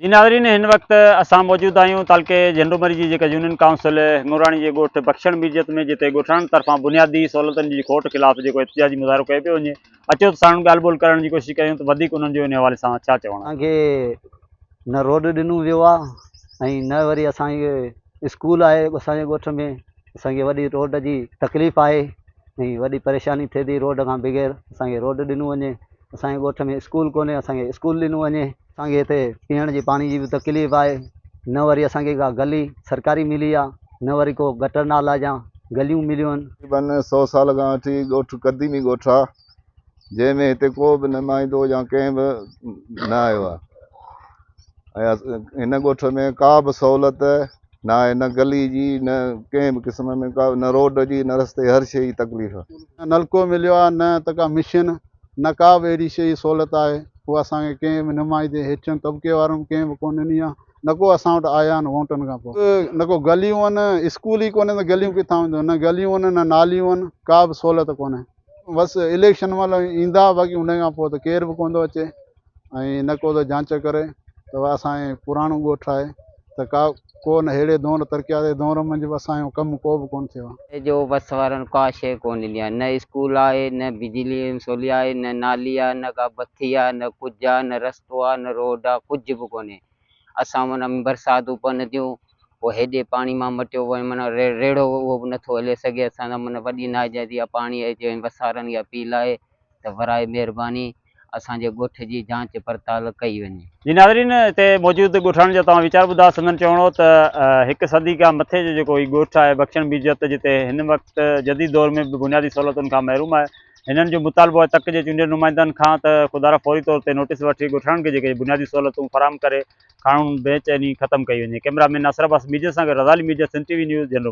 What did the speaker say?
جي ناظرين هن وقت اسان موجود آهيون تعلقي جهنڊومري جي جيڪا يونين ڪائونسل هڱوراڻي جي ڳوٺ بخشڻ ميرجيت ۾ جتي ڳوٺاڻن طرفان بنيادي سهولتن جي کوٽ خلاف جيڪو احتجاجي مظاهرو ڪيو پيو وڃي اچو ته ساڻن ڳالهه ٻولهه ڪرڻ جي ڪوشش ڪيون ته وڌيڪ انهن جو ان حوالي سان ڇا چوڻ آهي. کي نه روڊ ڏنو ويو آ ۽ نه وري اسان کي اسڪول آهي اسان جي ڳوٺ ۾ اسان کي وڏي روڊ جي تڪليف آهي ۽ وڏي پريشاني ٿئي ٿي روڊ کان بغير اسان کي روڊ ڏنو وڃي اسان جي ڳوٺ ۾ اسڪول ڪونهي اسان کي اسڪول ڏنو وڃي اسان کي هتي پيئڻ جي پاڻي جي به تڪليف آهي نه وري اسان کي ڪا گلي سرڪاري ملي آ نه وري ڪو گٽر نالا جا گليون مليون آهن. تقريبن سؤ سال کان وٺي ڳوٺ قديمي ڳوٺ آ جنهن ۾ هتي ڪو به نمائندو يا ڪنهن به نه آيو آ ۽ هن ڳوٺ ۾ ڪا به سهولت نه آهي نه گلي جي نه ڪنهن به قسم ۾ ڪا نه روڊ جي نه رستي هر شيء جي تڪليف. نه نلڪو مليو آهي نه ته ڪا مشين نه ڪا به اهڙي شيء جي سهولت آهي اها اسان کي ڪنهن به نمائندي هيٺين طبقي وارن به ڪنهن به ڪونه ڏني آهي نه ڪو اسان وٽ آيا آهن ووٽن کان پوء نه ڪو گليون آهن اسڪول ئي ڪونهي ته گليون ڪٿان وينديون نه گليون آهن نه ناليون آهن ڪا به سهولت ڪونهي بس اليڪشن مهل ايندا باقي ان کان پوء ته ڪير به ڪونه ٿو اچي. ۽ نه ڪو ته جانچ ڪري ته اهو اسان جي پراڻو ڳوٺ آهي ته ڪا ڪو نه ههڙي دؤر ترقياتي دؤر منجهه به اسان جو ڪم ڪو به ڪونه ٿيو آهي. هتي جو وس وارن ڪا شيء ڪونه ڏني آهي نه اسڪول آهي نه بجلي ۽ سولي آهي نه نالي آهي نه ڪا بٿي آهي نه ڪجهه آهي نه رستو آهي نه روڊ آهي ڪجهه به ڪونهي اسان معنيٰ برساتون پون ٿيون پوء هيڏي پاڻي مان مٽيو وڃي معنيٰ ريڙهو اهو به نٿو هلي سگهي اسان سان معنيٰ وڏي ناجائزي آهي پاڻي اچي وسارن اها پيل آهي ته براء مهرباني اسان جي ڳوٺ جي جانچ پڙتال ڪئي وڃي. جي ناظرين اتي موجود ڳوٺاڻن جا توهان ويچار ٻڌا سندن چوڻ هو ته هڪ صدي کان مٿي جو جيڪو هي ڳوٺ آهي بخشڻ بيجت جتي هن وقت جديد دور ۾ به بنيادي سهولتن کان محروم آهي هنن جو مطالبو آهي تڪ جي چونڊيل نمائندن کان ته خدارا فوري طور تي نوٽيس وٺي ڳوٺاڻن کي جيڪي بنيادي سهولتون فراهم ڪري کاڻون بي چيني ختم ڪئي وڃي ڪئميرا مين ناصر عباس ميجت سان گڏ Raza Ali ميجت Sindh T V news جهنڊو